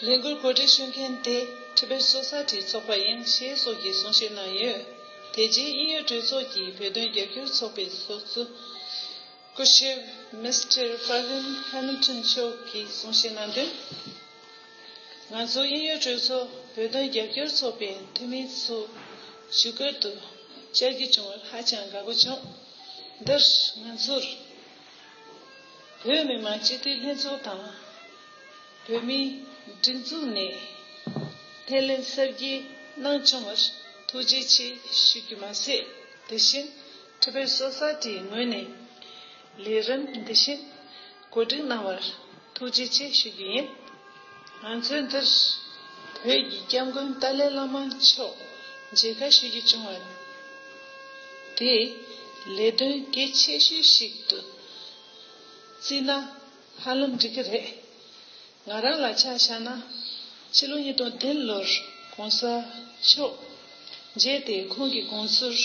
ལས་འགུལ་གོ་སྒྲིག་ཞུ་མཁན་དེ་ཁྲི་པེར་སོ་སར་ཁྲིའི་ཚོགས་པ་ཡིན་ཞེས་སོགས་ཀྱི་གསུང་བཤད་གནང་ཡོད། དེ་རྗེས་དབྱིན་ཡུལ་གྲོས་ཚོགས་ཀྱི་བོད་དོན་རྒྱབ་སྐྱོར་ཚོགས་པའི་ཚོགས་གཙོ། སྐུ་ཞབས Mister Pravin Hamilton མཆོག་གིས་གསུང་བཤད་གནང་དོན། ང་ཚོ་དབྱིན་ཡུལ་གྲོས་ཚོགས་བོད་དོན་རྒྱབ་སྐྱོར་ཚོགས་པའི་འཐུས་མི་ཚོ་ཞུ་སྐུལ་དུ་བཅར་རྒྱུ་བྱུང་བར་ཧ་ཅང་དགའ་པོ་བྱུང། འདིར་ང་ཚོར་བོད་མི་མང་སྤྱི་འཐུས་ལྷན་ཚོགས་དང། བོད་མིའི་སྒྲིག་འཛུགས་ནས་སྣེ་ལེན་གསར་བརྗེ་གནང་བྱུང་བར་ཐུགས་རྗེ་ཆེ་ཞུ་རྒྱུ་མ་ཟད་དེ་བཞིན Triple Society ངོས་ནས་ལས་རིམ་འདི་བཞིན་བཀོད་སྒྲིག་གནང་བར་ཐུགས་རྗེ་ཆེ་ཞུ་རྒྱུ་ཡིན། ང་ཚོའི་འདིར་བོད་ཀྱི་སྐྱབས་མགོན་ཏཱ་ལའི་བླ་མ་མཆོག་མཇལ་ཁ་ཞུ་རྒྱུ་བྱུང་བ་དེ་ལས་དོན་གལ་ཆེ་ཤོས་ཤིག་ཏུ་བརྩིས་ན་ཧ་ལམ་འགྲིག་གི་རེད། ང་རང་ལ་ཆ་བཞག་ན་ཕྱི་ལོ་ཉིས་སྟོང་བདུན་ལོར་གོང་ས་མཆོག་མཇལ་ཏེ་ཁོང་གི་དགོངས་ཚུལ་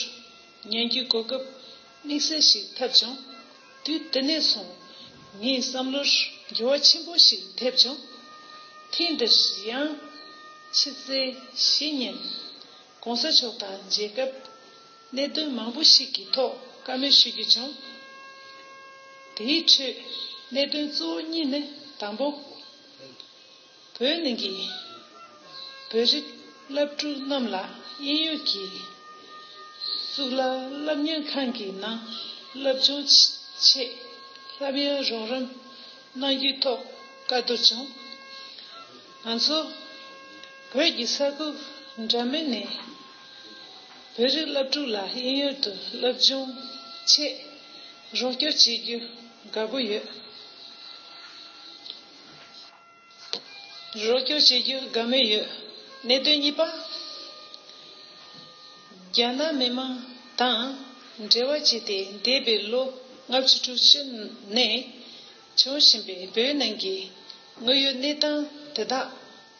ཉན་རྒྱུའི་གོ་སྐབས་དམིགས་བསལ་ཞིག་ཐེབས་བྱུང། དུས་དེ་ནས་བཟུང་ངའི་བསམ་བློར་འགྱུར་བ་ཆེན་པོ་ཞིག་ཐེབས་བྱུང། ཐེངས་འདིར་ཡང། ཕྱི་ཚེས་བཞི་ཉིན། གོང་ས་མཆོག་དང་མཇལ་སྐབས། གནད་དོན་མང་པོ་ཞིག་གི་ཐོག་བཀའ་མོལ་ཞུ་རྒྱུ་བྱུང། དེའི་ཁྲོད་གནད་དོན་གཙོ་བོ་གཉིས་ནི་དང་པོ། བོད་གླིང་གི་བོད་རིགས་བླ་སྤྲུལ་རྣམས་ལ་དབྱིན་ཡུལ་གྱི་གཙུག་ལག་བསླབ་གཉེར་ཁང་གི་ནང་བསླབ་སྦྱོང་ཆེད་བསླབ་ཡོན་རོགས་རམ་གནང་རྒྱུའི་ཐོག་བཀའ་བསྡུར་བྱུང། ང་ཚོ་བོད་ཀྱི་ས་ཁུལ་འདྲ་མིན་ནས་བོད་རིགས་བླ་སྤྲུལ་ལ་དབྱིན་ཡུལ་དུ་བསླབ་སྦྱོང་ཆེད་རོགས་སྐྱོར་བྱེད་རྒྱུ་དགའ་པོ་ཡོད། རོགས་སྐྱོར་བྱེད་རྒྱུར་དགའ་མོས་ཡོད། གནད་དོན་གཉིས་པ། རྒྱ་ནག་མི་མང་དང་འབྲེལ་བ་བྱས་ཏེ་འདས་པའི་ལོ་ལྔ་བཅུ་དྲུག་ཅུ་ནས་བྱུང་བཞིན་པའི་བོད་ནང་གི་དངོས་ཡོད་གནས་སྟངས་དེ་དག་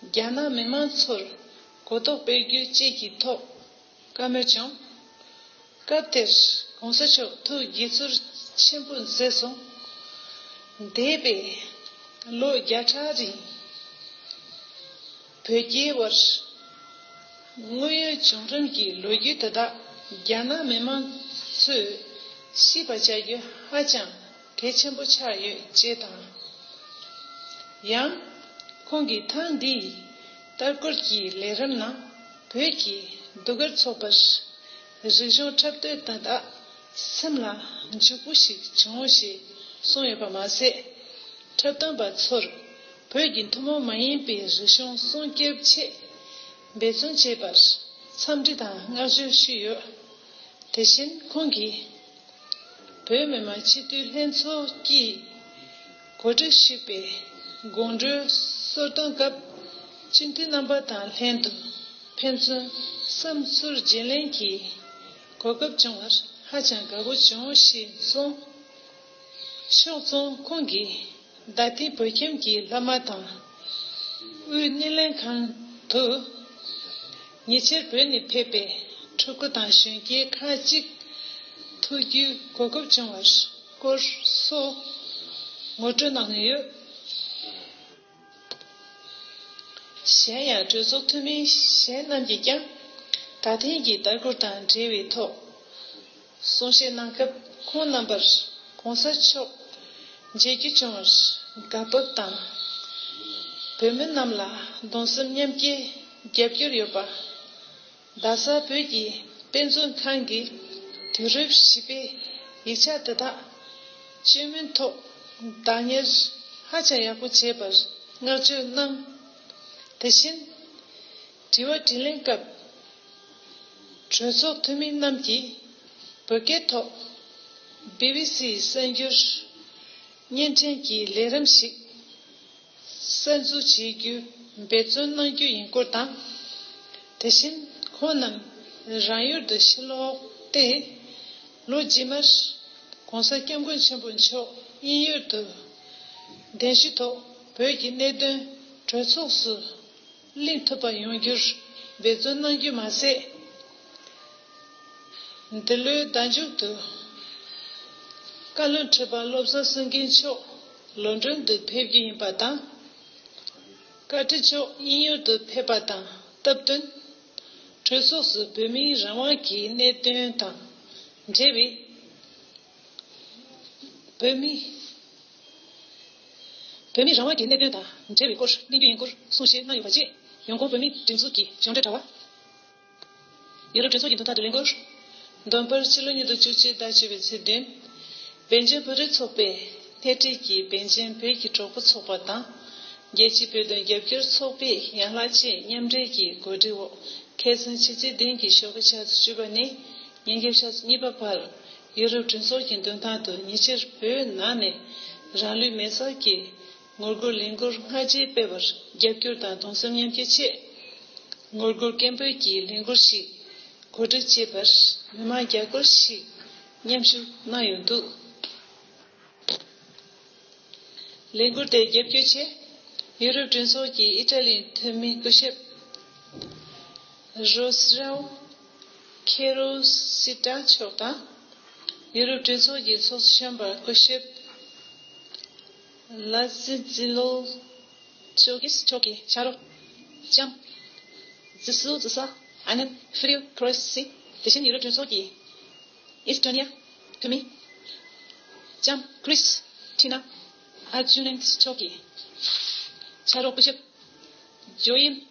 རྒྱ་ནག་མི་མང་ཚོར་གོ་རྟོགས་སྤེལ་རྒྱུ་བཅས་ཀྱི་ཐོག་བཀའ་མོལ་བྱུང། སྐབས་དེར་གོང་ས་མཆོག་ཐུགས་དགྱེས་ཚོར་ཆེན་པོ་མཛད་སོང། འདས་པའི་ལོ་བརྒྱ་ཕྲག་རིང་བོད་རྒྱའི་དབར་དངོས་ཡོད་བྱུང་རིམ་གྱི་ལོ་རྒྱུས་དེ་དག་རྒྱ་ནག་མི་མང་ཚོས་ཤེས་པ་བྱ་རྒྱུ་ཧ་ཅང་གལ་ཆེན་པོ་ཆགས་ཡོད་ཅེས་དང། ཡང་ཁོང་གིས་ཐེངས་འདིའི་ལྟར་སྐོར་གྱི་ལས་རིམ་ནང་བོད་ཀྱི་ཟློས་གར་ཚོགས་པར་རིག་གཞུང་འཁྲབ་སྟོན་དང་དག་སེམས་ལ་འཇུག་པོ་ཞིག་བྱུང་ཞེས་གསུངས་ཡོད་པ་མ་ཟད། འཁྲབ་སྟོན་པ་ཚོར་བོད་ཀྱི་ཐུན་མོང་མ་ཡིན་པའི་རིག་གཞུང་སྲུང་སྐྱོབ་ཆེད་འབད་བརྩོན་བྱས་པར་འཚམས་འདྲི་དང་བསྔགས་བརྗོད་ཞུས་ཡོད། དེ་བཞིན་ཁོང་གིས། བོད་མི་མང་སྤྱི་འཐུས་ལྷན་ཚོགས་ཀྱིས། གོ་སྒྲིག་བྱས་པའི་དགོང་དྲོའི་གསོལ་སྟོན་སྐབས་སྤྱི་འཐུས་རྣམ་པ་དང་ལྷན་དུ་ཕན་ཚུན་བསམ་ཚུལ་བརྗེ་ལེན་གྱི་གོ་སྐབས་བྱུང་བར་ཧ་ཅང་དགའ་པོ་བྱུང་ཞེས་གསུངས། ཕྱོགས་མཚུངས་ཁོང་གིས་རྡ་སྟེང་བོད་ཁྱིམ་གྱི་བླ་མ་དང་དབུས་སྣེ་ལེན་ཁང་དུ་ཉེ་ཆར་བོད་ནས་ཕེབས་པའི་ཕྲུ་གུ་དང་གཞོན་སྐྱེས་ཁག་ཅིག་ཐུག་རྒྱུའི་གོ་སྐབས་བྱུང་བར། སྐོར་སོགས་ངོ་སྤྲོད་གནང་ཡོད། གཞན་ཡང་གྲོས་ཚོགས་འཐུས་མི་གཞན་རྣམས་ཀྱིས་ཀྱང་ད་ཐེངས་ཀྱི་ལྟ་སྐུལ་དང་འབྲེལ་བའི་ཐོག་གསུང་བཤད་གནང་སྐབས་ཁོང་རྣམ་པར ྋགོང་ས་མཆོག་མཇལ་རྒྱུ་བྱུང་བར་དགའ་སྤོབས་དང། བོད་མི་རྣམས་ལ་གདུང་སེམས་མཉམ་སྐྱེའི་རྒྱབ་སྐྱོར་ཡོད་པ། རྡ་ས་བོད་ཀྱི་དཔེ་མཛོད་ཁང་གིས་དུས་རབས་བཞི་པའི་ཡིག་ཆ་དེ་དག་བཅོས་མིན་ཐོག་བདག་གཉེར་ཧ་ཅང་ཡག་པོ་བྱས་པར་བསྔགས་བརྗོད་གནང། དེ་བཞིན་དྲི་བ་དྲིས་ལན་སྐབས་གྲོས་ཚོགས་འཐུས་མི་རྣམས་ཀྱིས་བོད་སྐད་ཐོག་བྷི་བྷི་སི་ཡི་གསར་འགྱུར་བརྙན་འཕྲིན་གྱི་ལས་རིམ་ཞིག་གསར་འཛུགས་བྱེད་རྒྱུ་འབད་བརྩོན་གནང་རྒྱུ་ཡིན་སྐོར་དང། དེ་བཞིན་ཁོང་རྣམས་རང་ཡུལ་དུ་ཕྱིར་ལོག་སྟེ། ལོ་རྗེས་མར ྋགོང་ས ྋསྐྱབས་མགོན་ཆེན་པོ་མཆོག་དབྱིན་ཡུལ་དུ་གདན་ཞུ་ཐོག་བོད་ཀྱི་གནད་དོན་གྲོས་ཚོགས་སུ། གླེང་ཐུབ་པ་ཡོང་རྒྱུར་འབད་བརྩོན་གནང་རྒྱུ་མ་ཟད། འདི་ལོའི་ཟླ་མཇུག་ཏུ་བཀའ་བློན་ཁྲི་པ་བློ་བཟང་སེང་གེ་མཆོག་ལོན་གྲོན་དུ་ཕེབས་རྒྱུ་ཡིན་པ་དང། བཀའ་ཁྲི་མཆོག་དབྱིན་ཡུལ་དུ་ཕེབས་པ་དང་སྟབས་བསྟུན། གྲོས་ཚོགས་སུ་བོད་མིའི་རང་དབང་གི་གནད་དོན་དང་འབྲེལ་བའི། བོད་མི་རང་དབང་གི་གནད་དོན་དང་འབྲེལ་བའི་སྐོར་གླེང་རྒྱུ་ཡིན་སྐོར་གསུང་བཤད་གནང་ཡོད་པ་བཅས་ཡོངས་ཁོངས་བོད་མིའི་སྒྲིག་འཛུགས་ཀྱི་གཞུང་འབྲེལ་དྲ་བ། ཡུ་རོབ་གྲོས་ཚོགས་ཀྱི་མདུན་ཐང་དུ་གླེང་སྐོར། འདོན་སྤེལ་ཕྱི་ལོ་ཉིས་སྟོང་བཅུ་གཅིག་ཟླ་བཅུ་བའི་ཚེས་བདུན། བན་རྒན་བོད་རིགས་ཚོགས་པས་སྣེ་ཁྲིད་ཀྱིས་བན་རྒན་བོད་ཀྱི་གྲོགས་པོ་ཚོགས་པ་དང། རྒྱལ་སྤྱིའི་བོད་དོན་རྒྱབ་སྐྱོར་ཚོགས་པའི་ཡན་ལག་བཅས་མཉམ་འབྲེལ་གྱི་གོ་སྒྲིག་འོག་མཁས་བཙུན་ཕྱི་ཚེས་བདུན་གྱི་ཞོགས་པ་ཆ་ཚེས་བཅུ་པ་ནས་ཉིན་རྒྱབ་ཆ་ཚེས་གཉིས་པ་བར། ཡུ་རོབ་གྲོས་ཚོགས་ཀྱི་མདུན་ཐང་དུ་ཉི་ཕྱིར་བོད་ནང་ནས་རང་ལུས་མེར་བསྲེགས་ཀྱི་ངོ་རྒོལ་ལས་འགུལ་སྔ་རྗེས་སྤེལ་བར་རྒྱབ་སྐྱོར་དང་གདུང་སེམས་མཉམ་སྐྱེད་ཆེད། ངོ་རྒོལ་སྐད་འབོད་ཀྱི་ལས་འགུལ་ཞིག་གོ་སྒྲིག་བྱས་པར་མི་མང་བརྒྱ་སྐོར་ཞིག་མཉམ་ཞུགས་གནང་ཡོད་འདུག་ལས་འགུལ་དེ་རྒྱབ་སྐྱོར་ཆེད་ཡུ་རོབ་གྲོས་ཚོགས་ཀྱི་ཨི་ཏྲ་ལིའི་འཐུས་མི་སྐུ་ཞབས་རོས་རའོ། ཁེ་རུ་སི་ཀྲ་མཆོག་དང། ཡུ་རོབ་གྲོས་ཚོགས་ཀྱི་ཚོགས་གཞོན་པ་སྐུ་ཞབས་ལཱ་ཛི་ཛི་ལོ་ཅོ་ཀིས་མཆོག་གིས་ཕྱག་རོགས་ལྕམ་ཛི་སུ་ཛི་སཱ་ཨ་ནན་ཧྥི་རིའུ་ཁྲོ་ཨེ་སི་དེ་བཞིན་ཡུ་རོབ་གྲོས་ཚོགས་ཀྱི་ཨིས་ཏོ་ནི་ཡ་བུད་མེད་ལྕམ་ཁྲི་སི་ཐི་ནཱ་ཨ་ཇུ་ནན་མཆོག་གིས་ཕྱག་རོགས་སྐུ་ཞབས་ཇོ་ཨིན་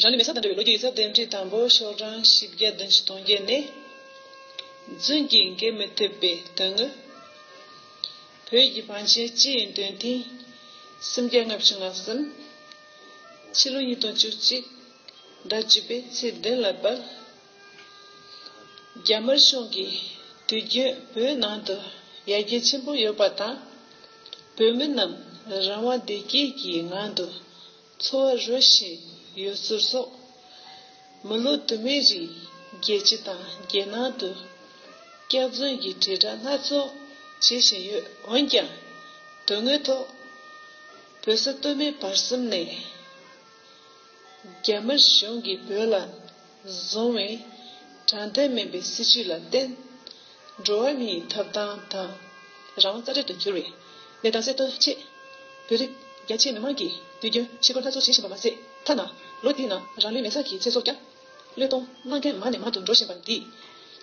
རང་ཉིད་མེ་གསར་དང་འབྲེལ་བའི་ལོ་རྒྱུས་ཀྱི་རྩ་དོན་ཁྲི་དང་པོ་ཤོག་གྲངས་བཞི་བརྒྱ་བདུན་ཅུ་སྟོང་བརྒྱད་ནས། རྫུན་གྱིས་འགེལ་མི་ཐུབ་པའི་དོན་དངོས། བོད་ཀྱི་བང་ཆེན་སྤྱི་ཡི་འདོན་ཐེངས། སུམ་བརྒྱ་ལྔ་བཅུ་ང་གསུམ། ཕྱི་ལོ་ཉིས་སྟོང་བཅུ་གཅིག། ཟླ་བཅུ་པའི་ཚེས་བདུན་ལ་སྦལ། རྒྱ་དམར་གཞུང་གིས་དུས་རྒྱུན་བོད་ནང་དུ་ཡར་རྒྱས་ཆེན་པོ་ཡོད་པ་དང། བོད་མི་རྣམས་རང་དབང་བདེ་སྐྱིད་ཀྱི་ངང་དུ་འཚོ་བ་རོལ་བཞིན་ཡོད་ཚུལ་སོགས། མི་ལོ་དུ་མའི་རིང་རྒྱལ་སྤྱི་དང་རྒྱལ་ནང་དུ་སྐྱག་རྫུན་གྱི་དྲིལ་བསྒྲགས་སྣ་ཚོགས་བྱེད་བཞིན་ཡོད། འོན་ཀྱང་དོན་དངོས་ཐོག་བོད་ས་སྟོད་སྨད་བར་གསུམ་ནས་རྒྱ་དམར་གཞུང་གིས་བོད་ལ། བཟུང་བས། དྲང་བདེན་མིན་པའི་སྲིད་བྱུས་ལ་བརྟེན། འགྲོ་བ་མིའི་ཐོབ་ཐང་དང། རང་དབང་རྩ་འདྲེན་དུ་གྱུར་བའི་ལས་དང་སྲིད་དོན་ཆེད། བོད་རིགས་རྒྱ་ཆེའི་མི་དམངས་ཀྱིས་དུས་རྒྱུན་ཕྱི་སྒོར་སྣ་ཚོགས་བྱེད་བཞིན་པ་མ་ཟད། ཐ་ན་ལོ་འདིའི་ནང་རང་ལུས་མེ་སྲེག་གི་ཚེ་སྲོག་ཀྱང་བློས་གཏོང་གནང་མཁན་མང་ནས་མང་དུ་འགྲོ་བཞིན་པ་འདིས།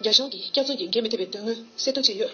རྒྱ་གཞུང་གིས་སྐྱག་རྫུན་གྱིས་འགན་མི་ཐེབས་པའི་དོན་དངོས་གསལ་སྟོན་བྱས་ཡོད།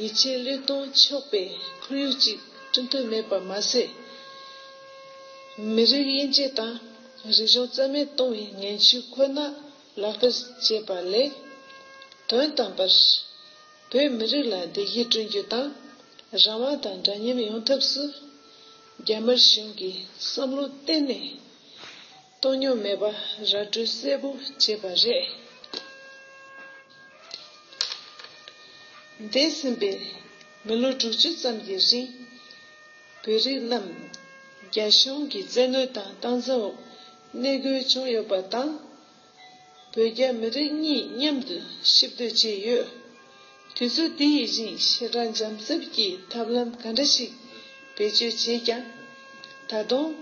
ཡིད་ཆེས་བློས་གཏོང་ཆོག་པའི་ཁོར་ཡུག་ཅིག་བསྐྲུན་ཐུབ་མེད་པར་མ་ཟད། མི་རིགས་དབྱེ་འབྱེད་དང་རིག་གཞུང་རྩ་མེད་གཏོང་བའི་ངན་བྱུས་ཁོ་ན་ལག་བསྟར་བྱས་པ་ལས། དོན་དམ་པར་བོད་མི་རིགས་ལ་བདེ་སྐྱིད་བསྐྲུན་རྒྱུ་དང་རང་དབང་དང་འདྲ་མཉམ་ཡོང་ཐབས་སུ་རྒྱ་དམར་གཞུང་གི་བསམ་བློ་གཏན་ནས་སྟོང་ཉུང་མེད་པ་ར་སྤྲོད་གསལ་པོ་བྱས་པ་རེད། འདས་ཟིན་པའི་མི་ལོ་དྲུག་ཅུ་ཙམ་གྱི་རིང། བོད་རིགས་རྣམས་རྒྱ་གཞུང་གི་བཙན་གནོན་དང་སྟངས་འཛིན་འོག་གནས་སྒུལ་བྱུང་ཡོད་པ་དང། བོད་རྒྱ་མི་རིགས་གཉིས་མཉམ་དུ་གཤིབ་སྡོད་བྱས་ཡོད། དུས་ཚོད་དེ་ཡི་བཞིན་ཕྱི་དྲོ་འཇམ་རྩུབ་ཀྱི་ཐབས་ལམ་ག་འདྲ་ཞིག་བེད་སྤྱོད་བྱས་ཀྱང། ད་དུང།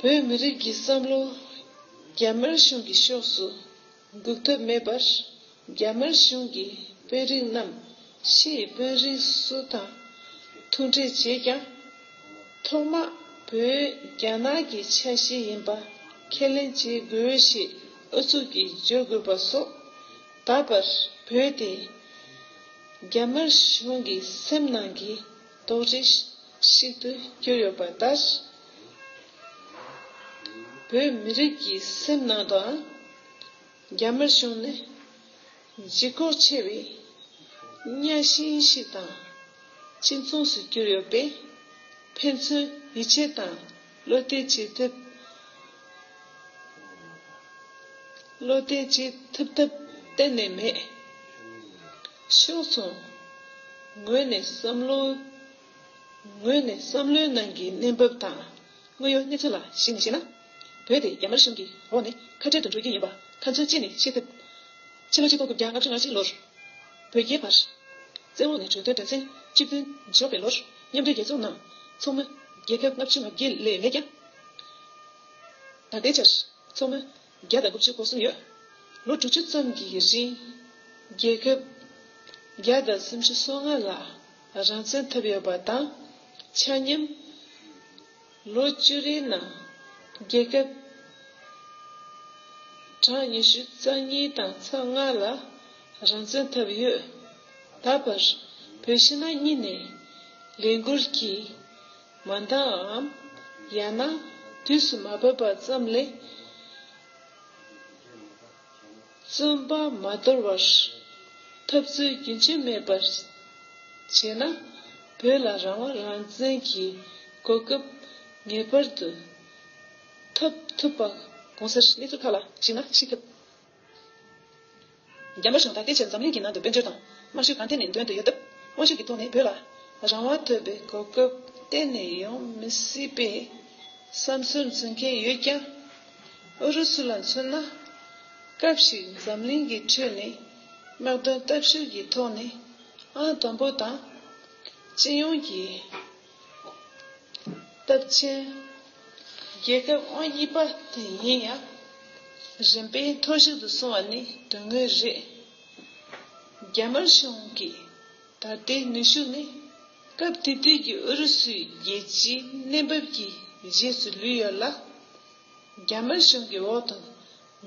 བོད་མི་རིགས་ཀྱི་བསམ་བློ་རྒྱ་དམར་གཞུང་གི་ཕྱོགས་སུ་འགུག་ཐབས་མེད་པར། རྒྱ་དམར་གཞུང་གི་དཔོན་རིགས་རྣམས་ཕྱི་ཡི་དཔོན་རིགས་སུ་དང་ཐུག་འཕྲད་བྱས་ཀྱང། ཐོག་མ་བོད་རྒྱ་ནག་གི་ཆ་ཤས་ཡིན་པ་ཁས་ལེན་བྱེད་དགོས་ཞེས་ཨུ་ཚུགས་ཀྱིས་བརྗོད་དགོས་པ་སོགས་ད་བར་བོད་དེ་རྒྱ་དམར་གཞུང་གི་སེམས་ནང་གི་རྡོག་རི་ཞིག་ཏུ་གྱུར་ཡོད་པ་ལྟར། བོད་མི་རིགས་ཀྱི་སེམས་ནང་དུའང་རྒྱ་དམར་གཞུང་ནི་ལྗིད་ཁོག་ཆེ་བའི་གཉའ་ཤིང་ཞིག་དང་གཅིག་མཚུངས་སུ་གྱུར་ཡོད་པས། ཕན་ཚུན་ཡིད་ཆེས་དང། བློ་གཏད་ཀྱིས་ཐུབ། བློ་གཏད་ཀྱིས་ཐུབ་ཐབས་གཏན་ནས་མེད། ཕྱོགས་མཚུངས་ངོས་ནས་བསམ་བློ། ངོས་ནས་བསམ་བློའི་ནང་གི་གནས་བབ་དང་དངོས་ཡོད་གནས་ཚུལ་ལ་གཞིགས་ནས་བཤད་ན། བོད་དེ་རྒྱ་དམར་གཞུང་གི་འོག་ནས་ཁ་བྲལ་དུ་འགྲོ་རྒྱུ་ཡིན་པ་ཁ་མཆུ་གཅིག་ནས་ཤེས་ཐུབ། ཕྱི་ལོ་སྤྱི་ལྡོག་དགུ་བརྒྱ་ལྔ་བཅུ་ང་གཅིག་ལོར། བོད་རྒྱའི་བར། བཙན་འོག་ནས་གྲོས་མཐུན་དགྲ་ཆེན་གཅིག་མཐུན་འཇོག་པའི་ལོར་མཉམ་འབྲེལ་རྒྱལ་ཚོགས་ནང་ཚོགས་མི། རྒྱལ་ཁབ་ལྔ་བཅུ་ང་བརྒྱད་ལས་མེད་ཀྱང། ད་ལྟའི་ཆར་ཚོགས་མི་བརྒྱ་དང་དགུ་བཅུ་གོ་གསུམ་ཡོད། ལོ་དྲུག་ཅུ་ཙམ་གྱི་རིང་རྒྱལ་ཁབ་བརྒྱ་དང་སུམ་ཅུ་སོ་ལྔ་ལ་རང་བཙན་ཐོབ་ཡོད་པ་དང་ཆ་མཉམ། ལོ་བཅུ་རེའི་ནང་རྒྱལ་ཁབ་གྲངས་ཉི་ཤུ་རྩ་གཉིས་དང་ཚོ་ལྔ་ལ་རང་བཙན་ཐོབ་ཡོད། ད་བར་བོད་ཕྱི་ནང་གཉིས་ནས་ལས་འགུལ་གྱིས་མ་འདའམ། ཡང་ན་དུས་སུ་མ་བབས་པ་ཙམ་ལས་བརྩོན་པ་མ་དོར་བར་འཐབ་རྩོད་རྒྱུན་ཆད་མེད་པར་བྱས་ན་བོད་ལ་རང་དབང་རང་བཙན་གྱི་གོ་སྐབས་ངེས་པར་དུ་ཐོབ་ཐུབ་པ་གང་ཟེར། གནས་ཚུལ་ཁག་ལ་གཞིགས་ན་ཤེས་ཐུབ། རྒྱ་མ་ཞིང་ད་ལྟའི་ཆར་འཛམ་གླིང་གི་ནང་དུ་དཔལ་འབྱོར་དང། དམར་གཞུ་གང་ཐད་ནས་འདོན་དུ་ཡོད་སྟབས། དངོས་ཤུགས་ཀྱི་ཐོག་ནས་བོད་ལ། རང་དབང་ཐོབ་པའི་གོ་སྐབས་གཏན་ནས་ཡོང་མི་སྲིད་པའི་བསམ་ཚུལ་འཛིན་མཁན་ཡོད་ཀྱང། ཨུ་རུ་སུ་ལ་མཚོན་ན། སྐབས་ཤིག་འཛམ་གླིང་གི་ཁྲོད་ནས་དམག་དོན་སྟབས་བཤེར་གྱི་ཐོག་ནས་ཨང་དང་པོ་དང། སྤྱི་ཡོངས་ཀྱི། སྟབས་ཆེན། རྒྱལ་ཁབ་ཨང་གཉིས་པ་དེ་ཡིན་ཡང། རིམ་པས་མཐོ་ཤོས་དུ་སོང་བ་ནི་དོན་དངོས་རེད། རྒྱ་དམར་གཞུང་གི་ད་ལྟའི་ནུས་ཤུགས་ནི། སྐབས་དེ་དུས་ཀྱི་ཨུ་རུ་སུའི་རྒྱལ་སྤྱིའི་གནས་བབ་ཀྱི་རྗེས་སུ་ལུས་ཡོད་ལ། རྒྱ་དམར་གཞུང་གི་འོག་ཏུ་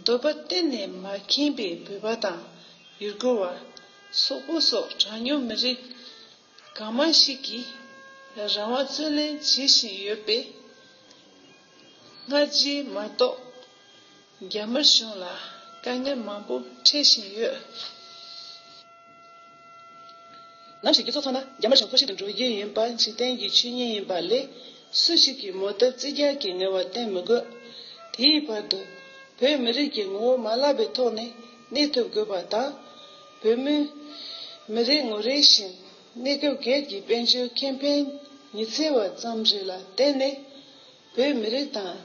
འདོད་པ་གཏན་ནས་མ་ཁེངས་པའི་བོད་པ་དང་ཡུ་གུར་བ། སོག་པོ་སོགས་གྲངས་ཉུང་མི་རིགས། གང་མང་ཞིག་གིས་རང་དབང་རྩོད་ལེན་བྱེད་བཞིན་ཡོད་པས། སྔ་རྗེས་མ་གཏོགས་རྒྱ་དམར་གཞུང་ལ་དཀའ་ངལ་མང་པོ་འཕྲད་བཞིན་ཡོད། ནམ་ཞིག་རྒྱུ་ཚོགས་ཚང་མ་རྒྱ་དམར་གཞུང་འཚོ་བཞིན་དུ་འགྲོ་རྒྱུ་ཡིན་པ་འཇིག་རྟེན་གྱི་ཆོས་ཉིད་ཡིན་པ་ལས་སུ་ཞིག་གིས་མོ་ཐབས་རྩིས་རྒྱག་གི་ངལ་བ་བསྟེན་མི་དགོས། དེའི་བར་དུ་བོད་མི་རིགས་ཀྱི་ངོ་བོ་མ་བརླག་པའི་ཐོག་ནས་གནས་ཐུབ་དགོས་པ་དང། བོད་མི། མི་རེ་ངོ་རེ་བཞིན་གནས་སྐབས་སྒེར་གྱི་དཔལ་འབྱོར་ཁེ་ཕན་ཉི་ཚེ་བ་ཙམ་རེ་ལ་བརྟེན་ནས་བོད་མི་རིགས་དང།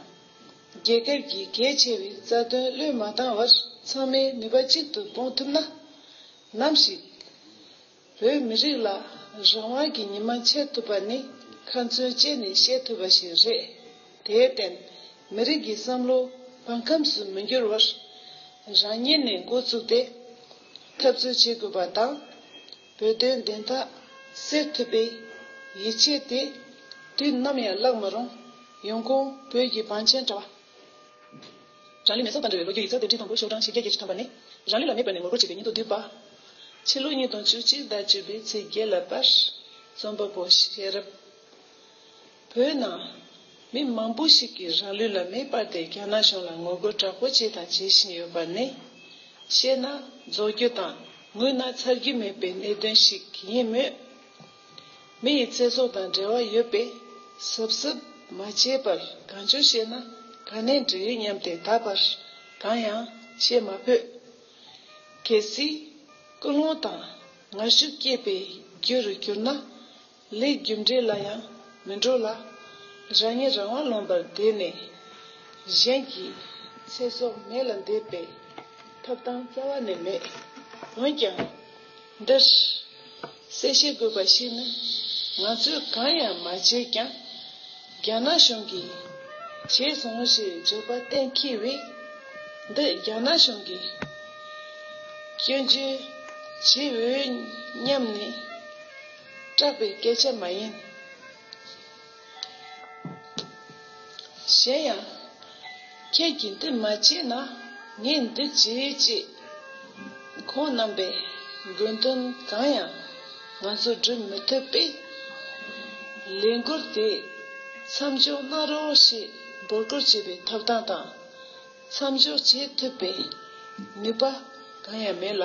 རྒྱལ་ཁབ་ཀྱི་གལ་ཆེ་བའི་རྩ་དོན་བློས་མ་བཏང་བར་ཚང་མའི་ནུས་པ་གཅིག་ཏུ་སྤུངས་ཐུབ་ན། ནམ་ཞིག་བོད་མི་རིགས་ལ་རང་དབང་གི་ཉི་མ་འཆར་ཐུབ་པ་ནི་ཁ་མཚོན་བཅད་ནས་བཤད་ཐུབ་པ་ཞིག་རེད། དེར་བརྟེན་མི་རིགས་ཀྱི་བསམ་བློ་བང་ཁམས་སུ་མི་འགྱུར་བར་རང་ཉིད་ནས་འགོ་བཙུགས་ཏེ་འཐབ་རྩོད་བྱེད་དགོས་པ་དང། བོད་དོན་བདེན་མཐའ་སེལ་ཐུབ་པའི་ཡིད་ཆེས་དེ་དུས་ནམ་ཡང་བརླག་མི་རུང། ཡོང་ཁུངས་བོད་ཀྱི་བང་ཆེན་དྲ་བ། རང་ལུས་མེ་སྲོག་དང་འབྲེལ་བའི་ལོ་རྒྱུས་ཡིག་ཚགས་དེབ་ཁྲི་སྟོང་དགུ་ཤོག་གྲངས་བཞི་བརྒྱ་བརྒྱད་ཅུ་ཐམ་པ་ནི། རང་ལུས་ལ་མེ་སྦར་ནས་ངོ་རྒོལ་བྱེད་པའི་སྙིང་སྟོབས་བསྡུས་པ། ཕྱི་ལོ་ཉིས་སྟོང་བཅུ་གཅིག་ཟླ་བཅུ་པའི་ཚེས་བརྒྱད་ལ་པར་རྩོམ་པ་པོ་ཤེས་རབ། བོད་ནང། མི་མང་པོ་ཞིག་གིས་རང་ལུས་ལ་མེ་སྤར་ཏེ་རྒྱ་ནག་གཞུང་ལ་ངོ་རྒོལ་དྲག་པོ་བྱས་དང་བྱེད་བཞིན་ཡོད་པ་ནི། བཤད་ན་རྫོགས་རྒྱུ་དང་ངུས་ན་མཚར་རྒྱུ་མེད་པའི་གནད་དོན་ཞིག་ཡིན་མོད། མི་ཡི་ཚེ་སྲོག་དང་འབྲེལ་བ་ཡོད་པས་གཟབ་གཟབ་མ་བྱས་པར་གང་བྱུང་བཤད་ན་ག་ནས་འགྲིག་སྙམ་སྟེ་ད་བར་གང་ཡང་བཤད་མ་ཕོད། གལ་སྲིད། ཀུན་སློང་དང་ངར་ཤུགས་སྐྱེས་པའི་རྒྱུ་རུ་གྱུར་ན། ལས་རྒྱུ་འབྲས་ལ་ཡང་མི་འགྲོ་ལ། རང་ཉིད་རང་དབང་ལོན་པར་འདོད་ནས། གཞན་གྱི་ཚེ་སྲོག་མེ་ལ་འདེབས་པའི། ཐབས་དང་རྩ་བ་ནི་མེད། འོན་ཀྱང། འདིར། གསལ་བཤད་དགོས་པ་ཞིག་ནི། ང་ཚོས་གང་ཡང་མ་བྱས་ཀྱང། རྒྱ་ནག་གཞུང་གིས། བྱས་སོང་ཞེས་བརྗོད་པ་གཏན་འཁེལ་བས། འདི་རྒྱ་ནག་གཞུང་གི། སྐྱོན་བརྗོད་བྱེད་འོས་སྙམ་ནས། སྐྲག་པའི་སྐད་ཆ་མ་ཡིན། གཞན་ཡང། ཁྱེད་ཀྱིས་འདི་མ་བྱས་ན་ངས་འདི་བྱེད་ཅེས། ཁོང་རྣམ་པས་དགོས་དོན་གང་ཡང་ང་ཚོར་བསྒྲུབ་མི་ཐུབ་པས། ལས་འགུལ་དེ་མཚམས་འཇོག་གནང་རོགས་ཞེས་འབོད་སྐུལ་བྱེད་པའི་ཐོབ་ཐང་དང། མཚམས་འཇོག་བྱེད་ཐུབ་པའི་ནུས་པ་གང་ཡང་མེད་ལ།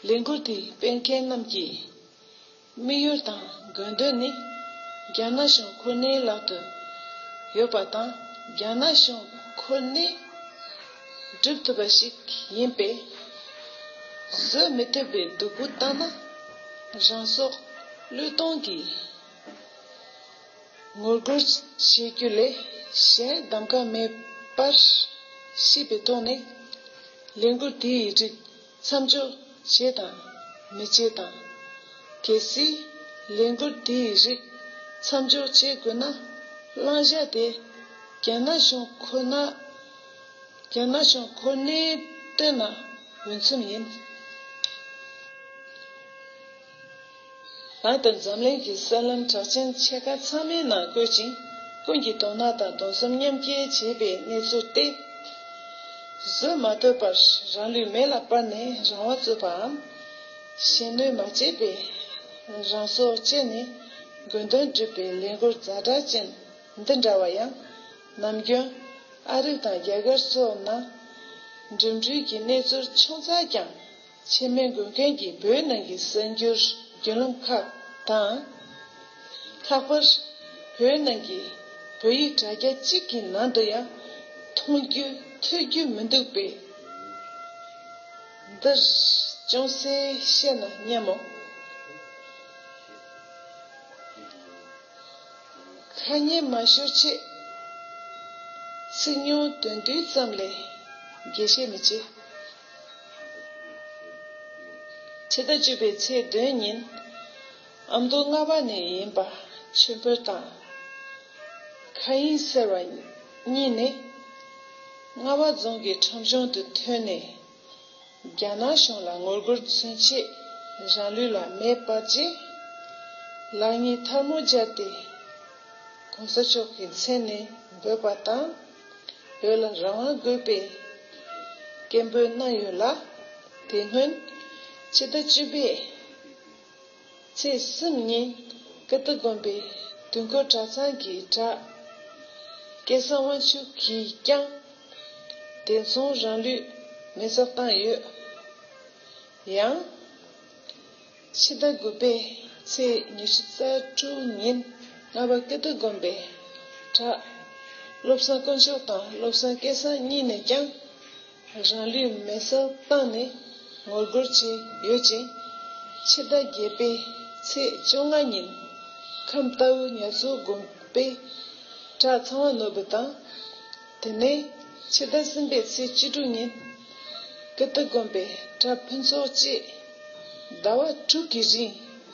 ལས་འགུལ་དེའི་སྤེལ་མཁན་རྣམས་ཀྱི་དམིགས་ཡུལ་དང་དགོས་འདུན་ནི། རྒྱ་ནག་གཞུང་ཁོ་ནའི་ལག་ཏུ་ཡོད་པ་དང་རྒྱ་ནག་གཞུང་ཁོ་ནས་སྒྲུབ་ཐུབ་པ་ཞིག་ཡིན་པས། བཟོད་མི་ཐུབ་པའི་སྡུག་པོ་བཏང་ན་རང་སྲོག་བློས་གཏོང་གིས་ངོ་རྒོལ་བྱེད་རྒྱུ་ལས་གཞན་གདམ་ག་མེད་པར་སྲིད་པའི་ཐོག་ནས། ལས་འགུལ་དེའི་རིགས་མཚམས་འཇོག་བྱེད་དང་མི་བྱེད་དང། གལ་སྲིད་ལས་འགུལ་དེའི་རིགས་མཚམས་འཇོག་བྱེད་དགོས་ན་བླང་བྱ་དེ་རྒྱ་ནག་གཞུང་ཁོ་ནར་རྒྱ་ནག་གཞུང་ཁོ་ནས་བཏོན་ན་འོས་འཚམས་ཡིན། ལགས་དང་འཛམ་གླིང་གི་གསར་ལམ་གྲགས་ཅན་ཕྱེད་ཀ་ཚང་མའི་ནང་བཀོད་ཅིང་ཀུན་གྱིས་དོ་སྣང་དང་གདུང་སེམས་མཉམ་སྐྱེ་བྱེད་པའི་གནས་ཚུལ་སྟེ། བཟོད་མ་ཐོལ་བར་རང་ལུས་མེ་ལ་སྤར་ནས་རང་དབང་རྩོད་པའམ། གཞན་གནོད་མ་བྱས་པའི་རང་སྲོག་བཅད་ནས་དགོས་དོན་སྒྲུབ་པའི་ལས་འགུལ་རྫ་དྲག་ཅན་འདི་འདྲ་བ་ཡང། ནམ་རྒྱུན་ཨ་རི་དང་རྒྱ་གར་སོགས་ན་འགྲིམ་འགྲུལ་གྱི་གནས་ཚུལ་ཆུང་ཙག་ཀྱང། ཆེན་མོའི་མགོན་མཁན་གྱིས་བོད་ནང་གི་གསར་འགྱུར་རྒྱུད་ལམ་ཁག་དང། ལྷག་པར་བོད་ནང་གི་བོད་ཡིག་དྲ་རྒྱ་གཅིག་གི་ནང་དུ་ཡང་མཐོང་རྒྱུ་ཐོས་རྒྱུ་མི་འདུག་པས། འདིར་ཅུང་ཟད་བཤད་ན་སྙམ་མོ། ཁ་སྙན་མ་ཤོར་ཆེད། ཚིག་ཉུང་དོན་བསྡུས་ཙམ་ལས་རྒྱས་བཤད་མི་བྱེད། ཕྱི་ཟླ་བཅུ་པའི་ཚེས་བདུན་ཉིན་ཨ་མདོ་རྔ་བ་ནས་ཡིན་པ་ཆོས་འཕེལ་དང་མཁའ་དབྱིངས་ཟེར་བ་གཉིས་ནི་རྔ་བ་རྫོང་གི་ཁྲོམ་གཞུང་དུ་ཐོན་ནས་རྒྱ་ནག་གཞུང་ལ་ངོ་རྒོལ་མཚོན་ཆེད་རང་ལུས་ལ་མེ་སྤར་རྗེས་ལག་གཉིས་ཐར་མོ་སྦྱར་ཏེ་གོང་ས་མཆོག་གི་མཚན་ནས་འབོད་པ་དང། འོད་ལ་རང་དབང་དགོས་པའི་སྐད་འབོད་གནང་ཡོད་ལ། དེ་སྔོན་ཕྱི་ཟླ་བཅུ་པའི་ཚེས་གསུམ་ཉིན་ཀིརྟི་དགོན་པའི་དུས་འཁོར་གྲྭ་ཚང་གི་གྲྭ་སྐལ་བཟང་དབང་ཕྱུག་གིས་ཀྱང་དེ་མཚུངས་རང་ལུས་མེ་བསྲེགས་བཏང་ཡོད། ཡང། ཕྱི་ཟླ་དགུ་པའི་ཚེས་ཉི་ཤུ་རྩ་དྲུག་ཉིན་རྔ་པ་ཀིརྟི་དགོན་པའི་གྲྭ་བློ་བཟང་དཀོན་མཆོག་དང་བློ་བཟང་སྐལ་བཟང་གཉིས་ནས་ཀྱང་རང་ལུས་མེ་བསྲེགས་བཏང་ནས་ངོ་རྒོལ་བྱས་ཡོད་ཅིང། ཕྱི་ཟླ་བརྒྱད་པའི་ཚེས་བཅོ་ལྔ་ཉིན་ཁམས་རྟའུ་ཉག་མཚོ་དགོན་པའི་གྲྭ་ཚང་བ་ནོར་བུ་དང། དེ་ནས་ཕྱི་ཟླ་གསུམ་པའི་ཚེས་བཅུ་དྲུག་ཉིན། ཀིརྟི་དགོན་པའི་གྲྭ་ཕུན་ཚོགས་བཅས་ཟླ་བ་དྲུག་གི་རིང་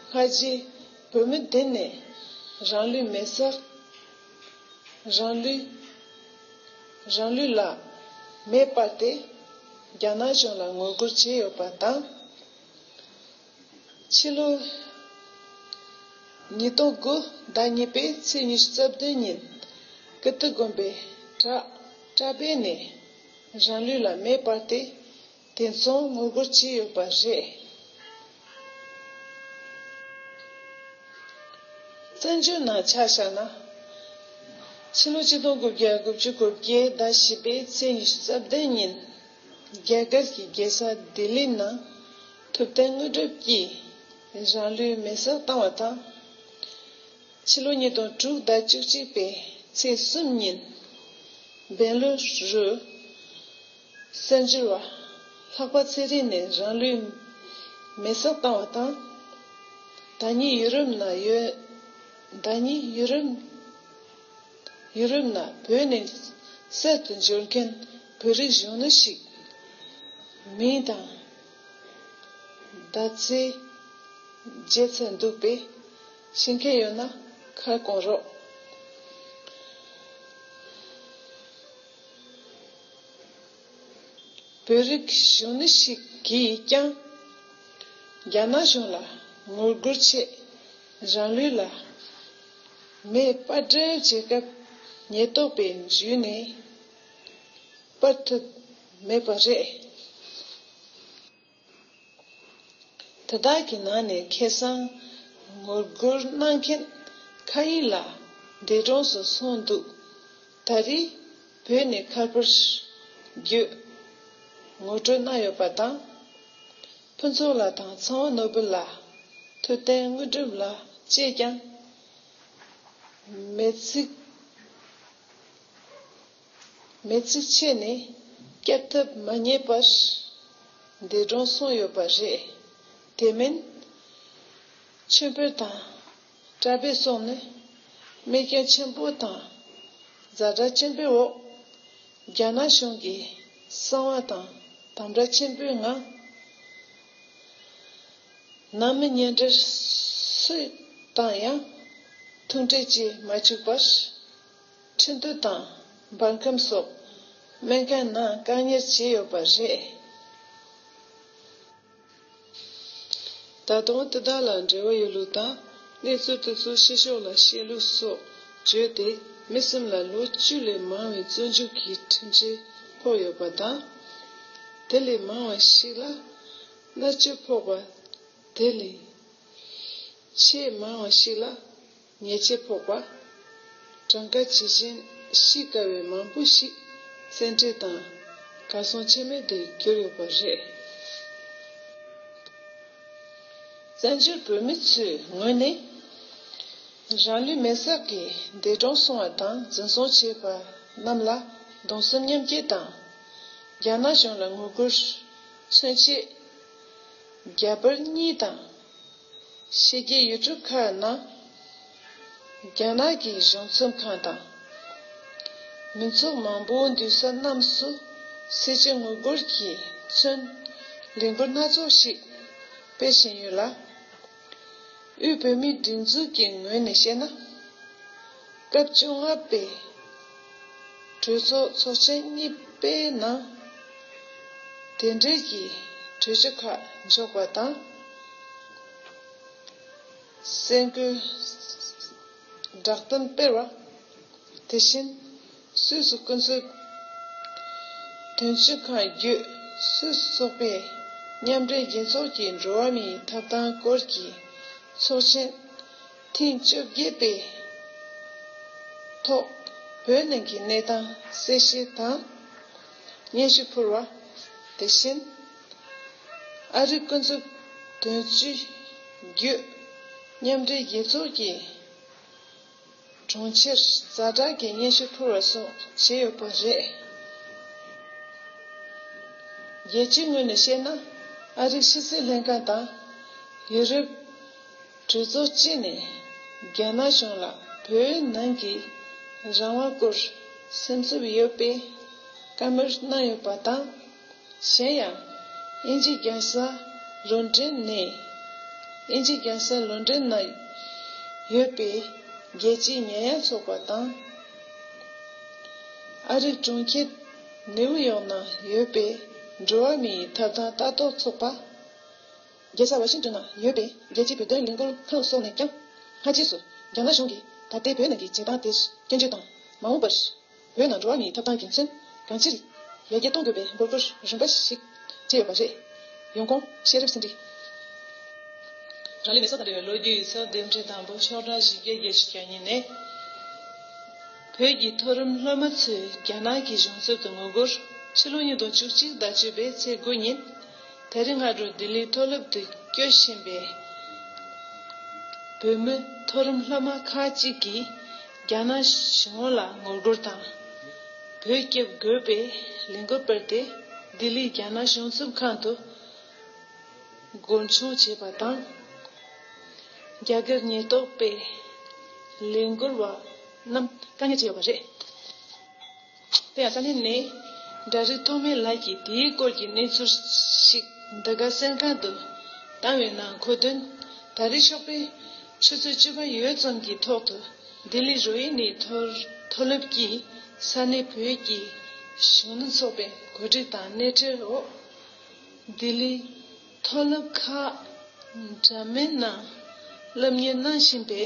སྔ་རྗེས་བོད་མི་སྡེ་ནས་རང་ལུས་མེ་བསྲེགས། རང་ལུས་རང་ལུས་ལ་མེ་སྤར་ཏེ་རྒྱ་ནག་གཞུང་ལ་ངོ་རྒོལ་བྱས་ཡོད་པ་དང། ཕྱི་ལོ་ཉིས་སྟོང་དགུ་ཟླ་གཉིས་པའི་ཚེས་ཉི་ཤུ་རྩ་བདུན་ཉིན་ཀིརྟི་དགོན་པའི་གྲྭ་པས་ནས་རང་ལུས་ལ་མེ་སྤར་ཏེ་དེ་མཚུངས་ངོ་རྒོལ་བྱས་ཡོད་པ་རེད། བཙན་བྱོལ་ནང་ཆ་བཞག་ན། ཕྱི་ལོ་གཅིག་སྟོང་དགུ་བརྒྱ་དགུ་བཅུ་དགུ་བརྒྱད་ཟླ་བཞི་པའི་ཚེས་ཉི་ཤུ་རྩ་བདུན་ཉིན་རྒྱ་གར་གྱི་རྒྱལ་ས་ལྡི་ལི་ནང། ཐུབ་བསྟན་དངོས་གྲུབ་ཀྱིས་རང་ལུས་མེ་སྲེག་བཏང་བ་དང། ཕྱི་ལོ་ཉིས་སྟོང་དྲུག་ཟླ་བཅུ་གཅིག་པའི་ཚེས་གསུམ་ཉིན་སྦེང་ལུ་རུ། བཙན་བྱོལ་བ་ལྷག་པ་ཚེ་རིང་ནས་རང་ལུས་མེ་སྲེག་བཏང་བ་དང། ཟླ་གཉིས་ཡུ་རོབ་ན་ཡོད། ཟླ་གཉིས་ཡུ་རོབ་ཡུ་རོབ་ན་བོད་ནས་བསད་དུ་འབྱོར་མཁན་བོད་རིགས་གཞོན་ནུ་ཞིག་མིང་དང། ཟླ་ཚེས་བརྗེད་ཚར་འདུག་པས་ཤེས་མཁན་ཡོད་ན་ཁ་སྐོང་རོགས། བོད་རིགས་གཞོན་ནུ་ཞིག་གིས་ཀྱང་རྒྱ་ནག་གཞུང་ལ་ངོ་རྒོལ་ཆེད་རང་ལུས་ལ་མེ་སྤར་སྒྲིལ་བྱེད་སྐབས་ཉེས་རྟོག་པས་འཇུས་ནས་སྤར་ཐུབ། མེད་པ་རེད། དེ་དག་གི་ནང་ནས་ཁེ་སང་ངོ་རྒོལ་གནང་མཁན་མཁའ་དབྱིངས་ལགས་འདས་གྲོངས་སུ་སོང་འདུག་ད་རེས་བོད་ནས་མཁར་པར་བརྒྱུད་ངོ་སྤྲོད་གནང་ཡོད་པ་དང། ཕུན་ཚོགས་ལགས་དང་ཚང་བ་ནོར་བུ་ལགས་ཐུབ་བསྟན་དངོས་གྲུབ་ལགས་བཅས་ཀྱང་མེད་ཚིག། མེས་ཚིག་ཆད་ནས་བསྐྱབ་ཐབས་མ་རྙེད་པར་འདས་གྲོངས་སོང་ཡོད་པ་རེད། དེ་མིན། ཆོས་འཕེལ་དང་བཀྲ་འཕེལ་སོགས་ནི་རྨས་སྐྱོན་ཆེན་པོ་དང་གཟའ་སྒྲ་ཆེན་པོའི་འོག་རྒྱ་ནག་གཞུང་གི་གསང་བ་དང་དམ་བསྒྲགས་ཆེན་པོའི་ངང་ནང་མི་གཉེན་སྒྲིག་སུས་བཏང་ཡང་ཐུག་འཕྲད་བྱེད་མ་བཅུག་པར། ཁྲི་འདུ་དང་འབར་ཁམས་སོགས་སྨན་སྐལ་ནང་བཀག་གཉེར་བྱས་ཡོད་པ་རེད། ད་དུང་དེ་དག་ལ་འབྲེལ་བ་ཡོད་ལུགས་དང་གནས་ཚུལ་དེ་ཚོ་ཕྱི་ཕྱོགས་ལ་བཤད་ལུགས་སོགས་བརྗོད་དེ་མི་སེམས་ལ་ལོ་བཅུ་ལས་མང་བའི་བཙོན་འཇུག་གི་ཁྲིམས་ཆད་ཕོག་ཡོད་པ་དང། དེ་ལས་མང་བ་ཞིག་ལ་མནར་གཅོད་ཕོག་པ། དེ་ལས་ཆེས་མང་བ་ཞིག་ལ། ཉེས་བྱས་ཕོག་པ། གྲངས་ཀ་ཇི་བཞིན་གཤིས་དཀའ་བའི་མང་པོ་ཞིག་བཙན་ཁྲིད་དང་གར་སོང་ཆད་མེད་དུ་གྱུར་ཡོད་པ་རེད། བཙན་བྱོལ་བོད་མི་ཚོའི་ངོས་ནས། རང་ལུས་མེར་སྲེག་གིས་འདས་གྲོངས་སོང་བ་དང་འཛིན་བཟུང་བྱས་པ་རྣམས་ལ་གདུང་སེམས་མཉམ་སྐྱེ་དང། རྒྱ་ནག་གཞུང་ལ་ངོ་རྒོལ་མཚོན་ཆེད། རྒྱ་བོད་གཉིས་དང། ཕྱི་རྒྱལ་ཡུལ་གྲུ་ཁག་ནང་རྒྱ་ནག་གི་གཞུང་ཚོམས་ཁང་དང། མི་ཚོགས་མང་པོའི་འདུས་ས་རྣམས་སུ་སྲིད་སྤྱི་ངོ་རྒོལ་གྱིས་མཚོན་གླེང་འབོད་སྣ་ཚོགས་ཤིག་སྤེལ་བཞིན་ཡོད་ལ། དབུས་བོད་མིའི་སྒྲིག་འཛུགས་ཀྱི་ངོས་ནས་བཤད་ན། སྐབས་བཅོ་ལྔ་པའི་གྲོས་ཚོགས་ཚོགས་ཆེན་གཉིས་པའི་ནང་དེ་འབྲེལ་གྱི་གྲོས་ཆོད་ཁག་འཇོག་པ་དང། གསལ་འགོད་བསྒྲགས་གཏམ་སྤེལ་བ། དེ་བཞིན་སུད་སི་ཀུན་སྤྱོད་དོན་གཅོད་ཁང་བརྒྱུད་སུད་སི་ཚོགས་པའི་མཉམ་འབྲེལ་རྒྱལ་ཚོགས་ཀྱི་འགྲོ་བ་མིའི་ཐོབ་ཐང་སྐོར་གྱི་ཚོགས་ཆེན་ཐེངས་བཅོ་བརྒྱད་པའི་ཐོག་བོད་ནང་གི་གནས་སྟངས་གསལ་བཤད་དང་སྙན་ཞུ་ཕུལ་བ་དེ་བཞིན་ཨ་རི་ཀུན་རྫོབ་དོན་གཅོད་རྒྱུད་མཉམ་འབྲེལ་རྒྱལ་ཚོགས་ཀྱི་དྲུང་ཆེར་གཟའ་གྲགས་ཀྱི་སྙན་ཞུ་ཕུལ་བ་སོགས་བྱས་ཡོད་པ་རེད། རྒྱལ་སྤྱིའི་ངོས་ནས་བཤད་ན་ཨ་རིའི་ཕྱི་སྲིད་ལྷན་ཁང་དང་ཡུ་རོབ། གྲོས་ཚོགས་སྤྱི་ནས་རྒྱ་ནག་གཞུང་ལ་བོད་ནང་གི་རང་དབང་སྐོར་སེམས་འཚབ་ཡོད་པའི་བཀའ་མོལ་གནང་ཡོད་པ་དང། གཞན་ཡང་དབྱིན་ཇི་རྒྱལ་ས་ལོ་འབྲེལ་ནས་དབྱིན་ཇི་རྒྱལ་ས་ལོ་འབྲེལ་ན་ཡོད་པའི་རྒྱལ་སྤྱིའི་ཉེ་ཡངས་ཚོགས་པ་དང། ཨ་རིའི་གྲོང་ཁྱེར་ནེའུ་ཡོག་ནང་ཡོད་པའི་འགྲོ་བ་མིའི་ཐབ་ཐང་ལྟ་རྟོག་ཚོགས་པ། རྒྱལ་ས་ཝ་ཤིང་ཏོན་ན་ཡོད་པའི་རྒྱལ་སྤྱིའི་བོད་དོན་ལས་འགུལ་ཁང་སོགས་ནས་ཀྱང། སྔ་རྗེས་སུ་རྒྱ་ནག་གཞུང་གིས་ད་ལྟའི་བོད་ནང་གི་བྱེད་སྟངས་དེར་སྐྱོན་བརྗོད་དང། མ་འོངས་པར་བོད་ནང་འགྲོ་བ་མིའི་ཐོབ་ཐང་རྒྱུ་མཚན་གང་ཅིར་ལེགས་སྐྱེས་གཏོང་དགོས་པའི་དགོས་མཁོར་རིམ་པ་ཞིག་བསྐྱེད་ཡོད་པ་རེད། ཡོང་ཁོང་ཤེས་རབ་སེང་ཁྲི། རང་ལུས་མེ་སྲོག་དང་འབྲེལ་བའི་ལོ་རྒྱུས་ཡིག་ཚགས་ལྡེབ་འཕྲིན་དང་པོ་ཤོག་གྲངས་བཞི་བརྒྱ་བརྒྱད་ཅུ་གྱ་གཉིས་ནས། བོད་ཀྱི་མཐོ་རིམ་སློབ་མ་ཚོས་རྒྱ་ནག་གི་གཞུང་ཚབ་ཏུ་ངོ་རྒོལ་ཕྱི་ལོ་ཉིས་སྟོང་བཅུ་གཅིག་ཟླ་བཅུ་པའི་ཚེས་དགུ་ཉིན། དེ་རིང་སྔ་དྲོ་ལྡི་ལིའི་མཐོ་སློབ་ཏུ་སྐྱོད་བཞིན་པའི་བོད་མི་མཐོ་རིམ་སློབ་མ་ཁག་གཅིག་གིས་རྒྱ་ནག་གཞུང་ངོ་ལ་ངོ་རྒོལ་དང། བོད་སྐྱོབ་དགོས་པའི་ལས་འགུལ་སྤེལ་ཏེ་ལྡི་ལིའི་རྒྱ་ནག་གཞུང་ཚུགས་ཁང་དུ་མགོ་མཆོང་བྱས་པ་དང། རྒྱ་སྒེར་ཉེན་རྟོག་པས་ལས་འགུལ་བ་རྣམས་བཀག་ཉར་བྱས་ཡོད་པ་རེད། དེ་ཡང་ད་ནི་ནས་འདྲ་རིགས་ཐོགས་མེད་ལགས་ཀྱིས་དེའི་སྐོར་གྱི་གནས་ཚུལ་ཞིག་འདི་ག་གསེར་ཁང་དུ་བཏང་བའི་ནང་འཁོད་དོན། ད་རེས་ཤོག་པའི་ཆུ་ཚོད་བཅུ་པ་ཡོལ་ཙམ་གྱི་ཐོག་ཏུ་ལྡི་ལི་རོ་ཧི་ནི་མཐོ་སློབ་ཀྱིས་ས་གནས་བོད་ཀྱི་གཞོན་ནུ་ཚོགས་པའི་གོ་སྒྲིག་དང་སྣེ་ཁྲིད་འོག་ལྡི་ལི་མཐོ་སློབ་ཁག་འདྲ་མིན་ནང་སློབ་གཉེར་གནང་བཞིན་པའི།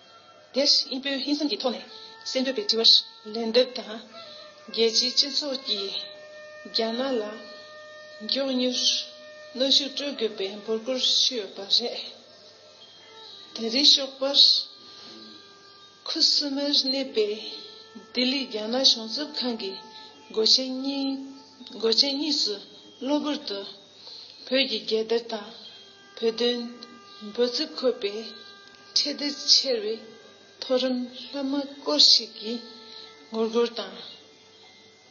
དེར་དབྱིན་བོད་ཧིན་སང་གི་ཐོག་ནས་གསལ་འདོད་པའི་དྲི་བར་ལན་འདེབས་དང། རྒྱལ་སྤྱིའི་སྤྱི་ཚོགས་ཀྱིས་རྒྱ་ནག་ལ་མགྱོགས་མྱུར་གནོན་ཤུགས་སྤྲོད་དགོས་པའི་འབོད་སྐུལ་ཞུས་ཡོད་པ་རེད། དེ་རིང་ཞོགས་པར་ཁུ་སིམ་མེར་གནས་པའི་ལྡི་ལི་རྒྱ་ནག་གཞུང་ཚབ་ཁང་གི་སྒོ་ཆེན་གཉིས་སུ་གློ་བུར་དུ་བོད་ཀྱི་རྒྱལ་དར་དང། བོད་དོན་འབོད་ཚིག་འཁོད་པའི་ཁྲལ་བདེ་ཆེར་བའི་མཐོ་རིམ་ལྷ་མོ་སྐོར་ཞིག་གིས་ངོ་རྒོལ་དང་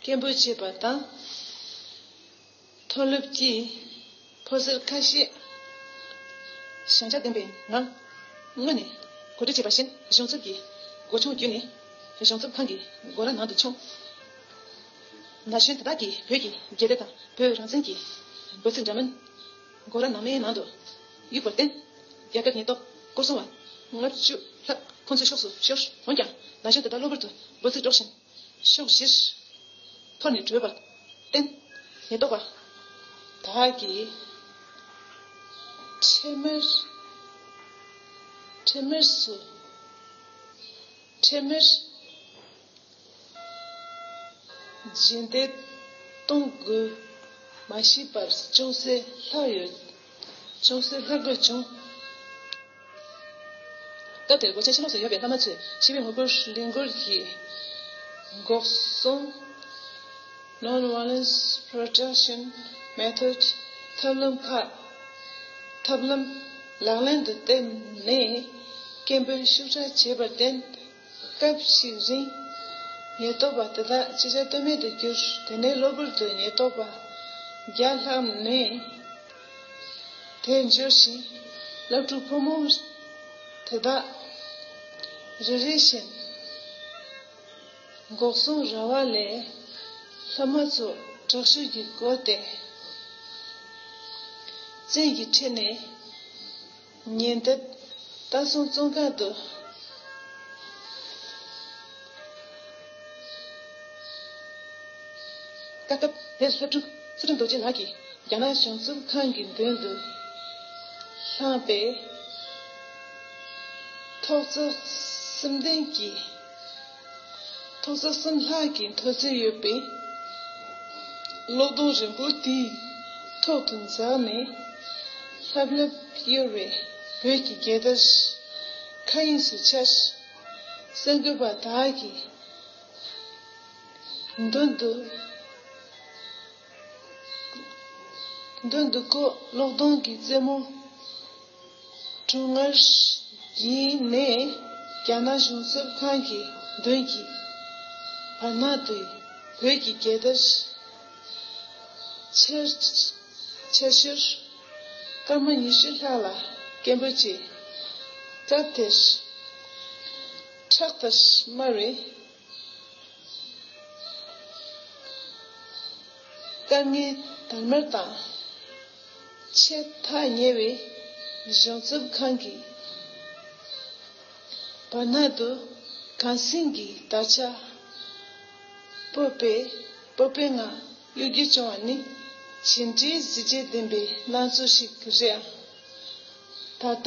སྐད་འབོད་བྱས་པ་དང། མཐོ་སློབ་ཀྱི་ཕོ་གསར་ཁ་ཤས་ཞན་ཆ་ལྡན་པའི་ངང་དངོས་ནས་གོ་སྒྲིག་བྱས་པ་བཞིན་གཞུང་ཚབ་ཀྱི་སྒོ་ཆུང་བརྒྱུད་ནས་གཞུང་ཚབ་ཁང་གི་སྒོ་ར་ནང་དུ་མཆོངས། ན་གཞོན་དེ་དག་གིས་བོད་ཀྱི་རྒྱལ་རབས་དང་བོད་རང་བཙན་གྱི་འབོད་ཚིག་འདྲ་མིན། སྒོ་ར་ནང་མའི་ནང་དུ་གཡུགས་པར་བརྟེན། རྒྱ་གར་ཉེན་རྟོག་སྐོར་སྲུང་བ་ལྔ་བཅུ་ལྷག་ཁོ་ཚོའི་ཕྱོགས་སུ་ཤོར། འོན་ཀྱང་ན་གཞོན་དེ་དག་གློ་བུར་དུ་འབོད་ཚིག་སྒྲོག་བཞིན་ཕྱོགས་བཞིར་འཐོར་ནས་བྲོས་པར་བརྟེན། ཉེན་རྟོག་པ་དག་གིས་འཕྲལ་མར་འཕྲལ་མར་སུ་འཕྲལ་མར་བཞིན་ཏེ། གཏོང་དགོས་མ་བྱས་པར་ཅུང་ཟད་ལྷག་ཡོད། ཅུང་ཟད་ལྷག་དགོས་བྱུང། སྐབས་དེར་སྒོ་ཆེན་ཕྱི་ལོགས་སུ་ཡོད་པའི་བླ་མ་ཚོས་ཞི་བའི་ངོ་རྒོལ་གླེང་སྐོར་གྱི་འགོག་སྲུང། Non-Violence Protection Method། ཐབས་ལམ་ཁག་ཐབས་ལམ་ལག་ལེན་དུ་བསྟེར་ནས་སྐད་འབོད་ཤུགས་དྲག་བྱས་པར་བརྟེན། སྐབས་ཤིག་རིང། ཉེན་རྟོག་པ་དེ་དག་ཅི་བྱ་གཏོལ་མེད་དུ་གྱུར། དེ་ནས་གློ་བུར་དུ་ཉེན་རྟོག་པ་བརྒྱ་ལྷག་མས་དེ་འབྱོར་ཞིང། སློབ་ཕྲུག་ཕོ་མོ་དེ་དག་རེ་རེ་བཞིན་འགོག་སྲུང་ར་བ་ལས་ལྷ་མ་ཚོ་དྲག་ཤུལ་གྱིས་བསྐོར་ཏེ། བཙན་གྱིས་ཁྲིད་ནས་ཉིན་དེ་ལྟ་སོང་བཙོན་ཁང་དུ། བཀའ་སྐབས་དེར་ལྷ་སྒྲུབ་ཚེ་སྒྲུབ་རྡོ་རྗེ་ལགས་ཀྱིས་རྒྱ་ནག་གཞུང་གཙུག་ཁང་གི་མདུན་དུ་ལྷགས་པས། ཐོག་བརྩེགས་སེམས་ལྡན་གྱིས། མཐོ་ས་གསུམ་ལྷག་གི་མཐོ་ཚད་ཡོད་པའི་གློག་སྡོང་རིང་པོ་དེའི་ཐོག་ཏུ་འཛེགས་ནས་ལྷབ་ལྷུབ་གཡོ་བའི་བོད་ཀྱི་རྒྱལ་དར་མཁའ་དབྱིངས་སུ་འཕྱར། གསར་འགོད་པ་དག་གི་མདུན་དུ་མདུན་དུ་ཀོ་གློག་སྡོང་གི་རྩེ་མོ། ཀྲུང་ཨར་ཡི་ནས་རྒྱ་ནག་གཞུང་གསབ་ཁང་གི་མདུན་གྱི་བར་ན་དུས་བོད་ཀྱི་རྒྱལ་དར་ཕྱིར་འཕྱར་ཞོར་སྐར་མ་ཉི་ཤུ་ལྷག་ལ་སྐད་འབོད་བྱས། སྐབས་དེར་ཁྲག་དར་དམར་བའི། དཀའ་ངལ་དར་མར་དང་ཆད་ཐག་ཉེ་བའི་གཞུང་ཚབ་ཁང་གི་བར་སྣང་དུ་གངས་སེང་གི་དར་ཆ་སྤོས་པའི་སྤོབས་པའི་ངང་གཡོ་སྒྱུ་བྱུང་བ་ནི་ཇི་འདྲའི་གཟི་བརྗིད་ལྡན་པའི་སྣང་ཚུལ་ཞིག་རེད་ཨང། ད་ལྟ་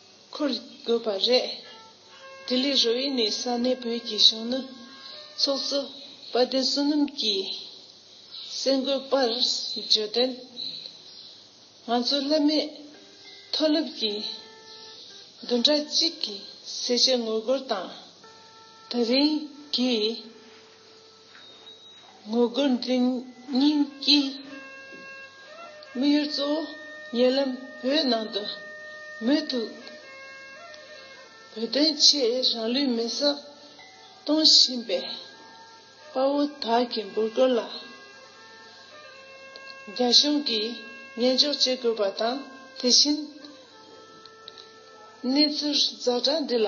འཁུར་དགོས་པ་རེད། ལྡི་ལི་རུ་ཨི་ནི་ས་གནས་བོད་ཀྱི་གཞོན་ནུ་ཚོགས་གཙོ་དཔལ་ལྡན་བསོད་ནམས་ཀྱིས་གསལ་འགོད་པར་བརྗོད་དོན། ང་ཚོ་བླ་མེད་མཐོ་སློབ་ཀྱི་བདུན་ཕྲག་གཅིག་གི་གསལ་བྱེད་ངོ་རྒོལ་དང། ད་རིང་གི། ངོ་རྒོལ་འཛིན་སྙིང་གིས་དམིགས་ཡུལ་གཙོ་བོ་ཉེ་ལམ་བོད་ནང་དུ་མུ་མཐུད་བོད་དོན་ཆེད་རང་ལུས་མེ་སྲེག་གཏོང་བཞིན་པའི་དཔའ་བོ་དག་གི་འབོད་སྐུལ་ལ་རྒྱ་གཞུང་གིས་ཉན་འཇོག་བྱེད་དགོས་པ་དང་དེ་བཞིན་གནས་ཚུལ་རྫ་དྲ་འདི་ལ་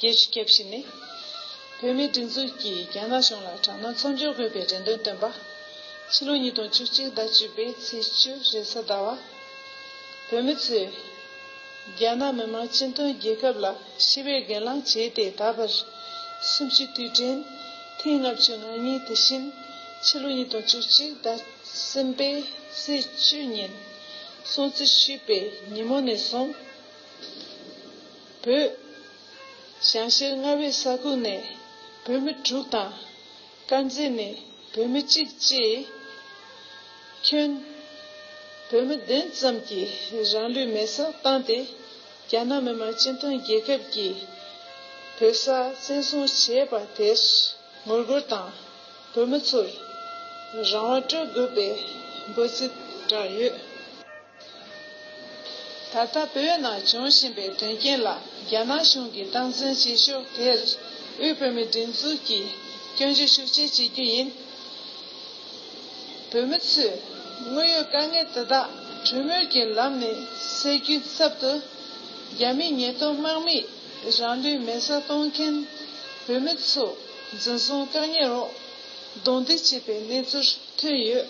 རྒྱལ་སྤྱིའི་དགེ་བཤེས་ནས་བོད་མིའི་སྒྲིག་འཛུགས་ཀྱིས་རྒྱ་ནག་གཞུང་ལ་དྲག་གནོན་མཚམས་འཇོག་དགོས་པའི་རེ་འདུན་བཏོན་པ། ཕྱི་ལོ་ཉིས་སྟོང་བཅུ་གཅིག་ཟླ་བཅུ་པའི་ཚེས་བཅུ་རེས་གཟའ་ཟླ་བར། བོད་མི་ཚོས་རྒྱ་ནག་མི་དམངས་སྤྱི་མཐུན་རྒྱལ་ཁབ་ལ་ཞི་བའི་སྒེར་ལངས་བྱས་ཏེ་ད་བར་གསུམ་བཅུའི་དུས་དྲན་ཐེངས་ལྔ་བཅུ་ང་གཉིས་དེ་བཞིན་ཕྱི་ལོ་ཉིས་སྟོང་བཅུ་གཅིག་ཟླ་གསུམ་པའི་ཚེས་བཅུ་ཉིན་སྲུང་བརྩི་ཞུས་པའི་ཉིན་མོ་ནས་བཟུང། བོད། ཞང་ཞལ་ལྔ་བའི་ས་ཁུལ་ནས་བོད་མི་དྲུག་དང། དཀར་མཛེས་ནས་བོད་མི་གཅིག་བཅས། ཁྱོན། བོད་མི་བདུན་ཙམ་གྱིས་རང་ལུས་མེ་སྲེག་བཏང་སྟེ། རྒྱ་ནག་མི་དམངས་སྤྱི་མཐུན་རྒྱལ་ཁབ་ཀྱིས་བོད་ས་བཙན་བཟུང་བྱས་པ་དེར་ངོ་རྒོལ་དང། བོད་མི་ཚོར་རང་དབང་སྤྲོད་དགོས་པའི་འབོད་ཚིག་བསྒྲགས་ཡོད། ད་ལྟ་བོད་ནང་འབྱུང་བཞིན་པའི་དོན་རྐྱེན་ལ་རྒྱ་ནག་གཞུང་གིས་སྟངས་འཛིན་བྱེད་ཕྱོགས་དེར་དབུས་བོད་མིའི་སྒྲིག་འཛུགས་ཀྱིས་སྐྱོན་བརྗོད་ཤུགས་ཆེ་བྱེད་རྒྱུ་ཡིན། བོད་མི་ཚོས་དངོས་ཡོད་དཀའ་ངལ་དེ་དག་གྲོས་མོལ་གྱི་ལམ་ནས་སེལ་རྒྱུའི་ཚབ་ཏུ། རྒྱ་མིས་ཉེས་དོན་དམག་མིས་རང་ལུས་མེ་བསྲེགས་གཏོང་མཁན་བོད་མི་ཚོ་འཛིན་བཟུང་བཀག་ཉར་འོག་རྡུང་རྡེག་བྱས་པའི་གནས་ཚུལ་ཐོན་ཡོད།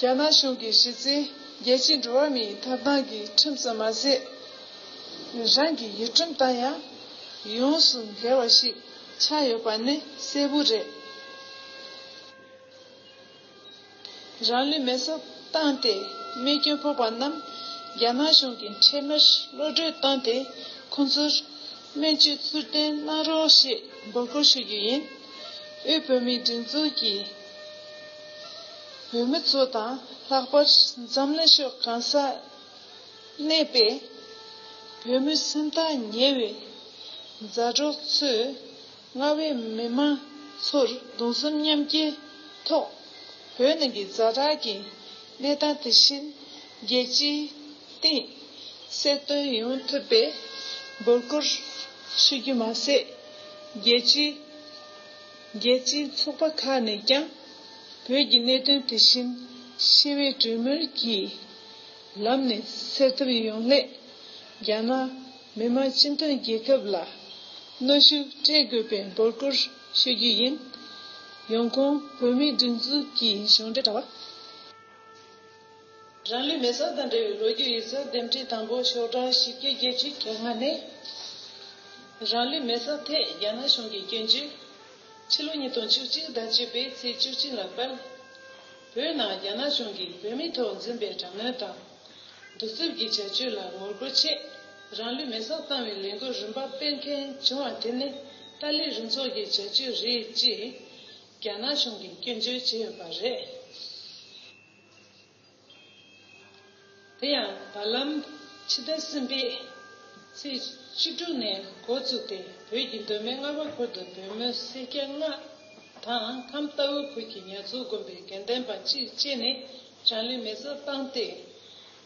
རྒྱ་ནག་གཞུང་གི་གཞི་རྩའི་རྒྱལ་སྤྱིའི་འགྲོ་བ་མིའི་ཐོབ་ཐང་གི་ཁྲིམས་སུ་མ་ཟད། རང་གི་ཡུལ་ཁྲིམས་དང་ཡང་ཡོངས་སུ་འགལ་བ་ཞིག་ཆགས་ཡོད་པ་ནི་གསལ་བོ་རེད། རང་ལུས་མེ་སྲེག་བཏང་སྟེ་རྨས་སྐྱོན་ཕོག་པ་རྣམས་རྒྱ་ནག་གཞུང་གི་འཕྲལ་མར་གློད་གྲོལ་བཏང་སྟེ་ཁོང་ཚོར་སྨན་བཅོས་ཚུར་བསྟེན་གནང་རོགས་ཞེས་འབོད་སྐུལ་ཞུ་རྒྱུ་ཡིན། དབུས་བོད་མིའི་སྒྲིག་འཛུགས་ཀྱི་བོད་མི་ཚོ་དང་ལྷག་པར་འཛམ་གླིང་ཕྱོགས་གང་སར་གནས་པའི་བོད་མི་སེམས་ཐག་ཉེ་བའི་མཛའ་གྲོགས་ཚོས་རྔ་བའི་མི་མང་ཚོར་གདུང་གསུམ་མཉམ་སྐྱེའི་ཐོག་བོད་ནང་གི་རྫ་དྲག་གི་གནས་སྟངས་དེ་བཞིན་རྒྱལ་སྤྱིའི་སྟེང་གསལ་སྟོན་ཡོང་ཐུབ་པའི་འབོད་སྐུལ་ཞུ་རྒྱུ་མ་ཟད་རྒྱལ་སྤྱིའི། རྒྱལ་སྤྱིའི་ཚོགས་པ་ཁག་ནས་ཀྱང་བོད་ཀྱི་གནད་དོན་དེ་བཞིན་ཞི་བའི་གྲོས་མོལ་གྱི་ལམ་ནས་སེལ་ཐབས་ཡོང་སླད་རྒྱ་ནག་མི་དམངས་སྤྱི་མཐུན་རྒྱལ་ཁབ་ལ་གནོད་ཤུགས་སྤྲད་དགོས་པའི་འབོད་སྐུལ་ཞུ་རྒྱུ་ཡིན། ཡོང་ཁུངས་བོད་མིའི་སྒྲིག་འཛུགས་ཀྱི་གཞུང་འབྲེལ་དྲ་བ། རང་ལུས་མེ་སོར་དང་འབྲེལ་བའི་ལོ་རྒྱུས་ཡིག་ཚགས་འདེམས་སྒྲིག་དང་པོ་ཤོག་གྲངས་བཞི་བརྒྱ་བརྒྱད་ཅུ་གྱ་ལྔ་ནི། རང་ལུས་མེ་སོར་ཐད་རྒྱ་ནག་གཞུང་གི་སྐྱོན་བརྗོད། ཕྱི་ལོ་ཉིས་སྟོང་བཅུ་གཅིག་ཟླ་བཅུ་པའི་ཚེས་བཅུ་གཅིག་ལ་དཔལ། བོད་ནང་རྒྱ་ནག་གཞུང་གིས་བོད་མི་ཐོག་འཛིན་པའི་དྲག་གནོན་དང། གདུག་རྩུབ་ཀྱི་བྱ་སྤྱོད་ལ་ངོ་རྒོལ་ཆེད་རང་ལུས་མེ་སོར་བཏང་བའི་ལས་འགུལ་རིམ་པ་སྤེལ་མཁན་བྱུང་བ་དེ་ནི་ཏཱ་ལའི་རུ་ཚོགས་ཀྱི་བྱ་སྤྱོད་རེད་ཅེས་རྒྱ་ནག་གཞུང་གིས་སྐྱོན་བརྗོད་བྱས་ཡོད་པ་རེད། དེ་ཡང་བར་ལམ་ཕྱི་ཟླ་གསུམ་པའི་ཚེས་བཅུ་དྲུག་ནས་འགོ་བཙུགས་ཏེ་བོད་ཀྱི་གདོད་མའི་རྔ་བ་ཁུལ་དུ་བོད་མོའི་སེར་སྐྱ་ལྔ་དང་ཁམས་རྟ་བོའི་ཁུལ་གྱི་ཉར་ཚུལ་དགོན་པའི་དགེ་ལྡན་པ་གཅིག་བཅས་ནས་དྲང་ལེན་མེད་ས་བཏང་སྟེ་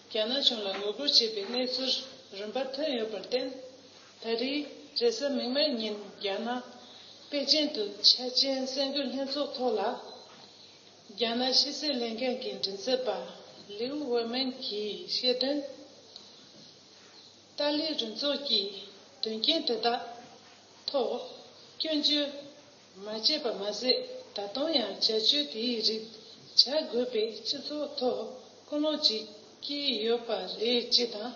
རྒྱ་ནག་གཞུང་ལ་ངོ་རྒོལ་བྱས་པའི་གནས་ཚུལ་རིམ་པ་ཐོན་ཡོད་པར་བརྟེན། ད་རེས་རེས་གཟའ་མིག་དམར་ཉིན་རྒྱ་ནག་པེ་ཅིན་དུ་འཆར་ཅན་གསར་འགོད་ལྷན་ཚོགས་ཐོག་ལ་རྒྱ་ནག་ཕྱི་སྲིད་ལས་འགན་གྱི་མགྲིན་ཚབ་པ་ལིའུ་ཝེ་མེན་གྱིས་བཤད་དོན། ཏཱ་ལའི་རུ་ཚོགས་ཀྱིས་དོན་རྐྱེན་དེ་དག་ཐོག་སྐྱོན་བརྗོད་མ་བྱས་པ་མ་ཟད་ད་དུང་ཡང་བྱ་སྤྱོད་དེའི་རིགས་བྱ་དགོས་པའི་སྤྱི་ཚོགས་ཐོག་ཀུན་སློང་ཞིག་སྐྱེས་ཡོད་པ་རེད་ཅེས་དང།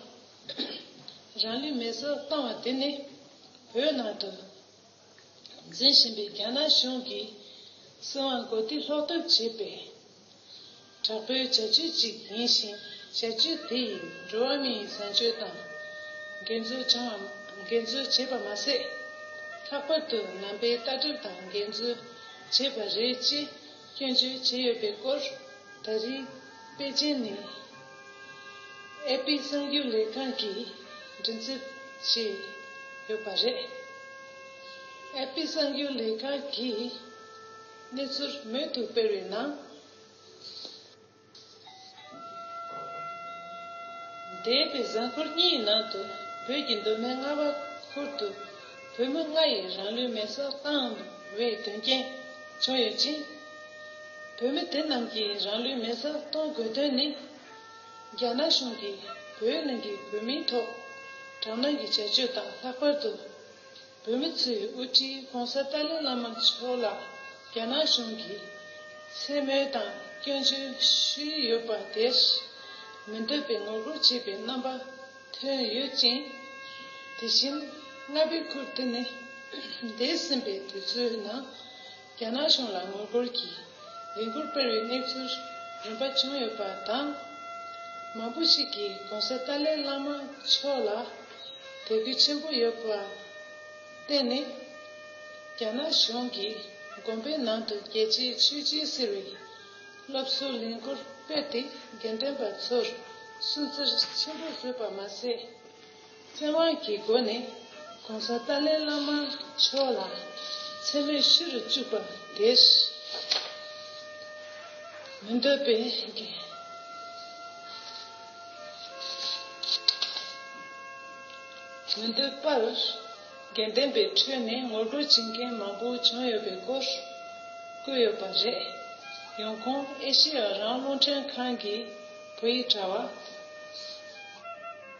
རང་ལུས་མེར་སྲེག་བཏང་བ་དེ་ནི་བོད་ནང་དུ། འཛིན་བཞིན་པའི་རྒྱ་ནག་གཞུང་གིས་སྲིད་དབང་གོ་བསྡུར་ལྷོག་ཐབས་བྱས་པའི་དྲག་པོའི་བྱ་སྤྱོད་ཅིག་ཡིན་ཞིང་བྱ་སྤྱོད་དེ་ཡིས་འགྲོ་བ་མིའི་བཟང་སྤྱོད་དང་འགལ་འཛོལ་བྱུང་བ་འགལ་འཛོལ་བྱས་པ་མ་ཟད། ལྷག་པར་དུ་ནང་པའི་ལྟ་གྲུབ་དང་འགལ་འཛོལ་བྱས་པ་རེད་ཅེས། སྐྱོན་བརྗོད་བྱས་ཡོད་པའི་སྐོར་ད་རེས་པེ་ཅིན་ནས་ཨེ་པི་གསང་རྒྱུགས་ལས་ཁང་གིས་མགྲིན་ཚབ་བྱས་ཡོད་པ་རེད། ཨེ་པི་གསང་རྒྱུགས་ལས་ཁང་གིས་གནས་ཚུལ་མོལ་བསྡུ་སྤེལ་བའི་ནང། འདས་པའི་གཟའ་འཁོར་གཉིས་ཡི་ནང་དུ་བོད་ཀྱི་མདོ་སྨད་རྔ་བ་ཁུལ་དུ་བོད་མི་ལྔ་ཡིས་རང་ལུས་མེ་སྲེག་བཏང་བའི་དོན་རྐྱེན་བྱུང་ཡོད་ཅིང། བོད་མི་དེ་རྣམས་ཀྱིས་རང་ལུས་མེ་སྲེག་གཏོང་དགོས་དོན་ནི། རྒྱ་ནག་གཞུང་གིས་བོད་ནང་གི་བོད་མིའི་ཐོག་དྲག་གནོན་གྱི་བྱ་སྤྱོད་དང་ལྷག་པར་དུ། བོད་མི་ཚོའི་དབུ་ཁྲིད ྋགོང་ས་ཏཱ་ལའི་བླ་མ་མཆོག་ལ་རྒྱ་ནག་གཞུང་གིས་མཚན་སྨོད་དང་སྐྱོན་བརྗོད་ཞུ་ཡི་ཡོད་པ་དེར་མི་འདོད་པའི་ངོ་རྒོལ་བྱེད་པའི་རྣམ་པ་ཐོན་ཡོད་ཅིང། དེ་བཞིན་རྔ་པའི་ཁུལ་དུ་ནི་འདས་ཟིན་པའི་དུས་ཚོད་ནང། རྒྱ་ནག་གཞུང་ལ་ངོ་རྒོལ་གྱི་ལས་འགུལ་སྤེལ་བའི་གནས་ཚུལ་རིམ་པ་བྱུང་ཡོད་པ་དང། མང་པོ་ཞིག་གིས་གོང་ས་ཏཱ་ལའི་བླ་མ་མཆོག་ལ་དད་གུས་ཆེན་པོ་ཡོད་པར་བརྟེན་ནས། རྒྱ་ནག་གཞུང་གི་དགོན་པའི་ནང་དུ་རྒྱལ་གཅེས་ཆོས་གཅེས་ཟེར་བའི་སློབ་གསོའི་ལས་འགུལ་སྤེལ་ཏེ་དགེ་འདུན་པ་ཚོར་སུན་གཙེར་ཆེན་པོ་བཟོས་པ་མ་ཟད། ཚེ་དབང་གི་སྒོ་ནས ྋགོང་ས་ཏཱ་ལའི་བླ་མ་མཆོག་ལ་མཚན་སྨོད་ཤི་རུ་བཅུག་པ་དེར་མི་འདོད་པའི་མི་འདོད་པར་དགེ་ལྡན་པའི་ཁྲོད་ནས་ངོ་རྒོལ་བྱེད་མཁན་མང་པོ་བྱུང་ཡོད་པའི་སྐོར་བཀོད་ཡོད་པ་རེད། ཡོང་ཁུངས་ཨེ་ཤི་ཡ་རང་བློ་འདྲེན་ཁང་གི་བོད་ཡིག་དྲ་བ།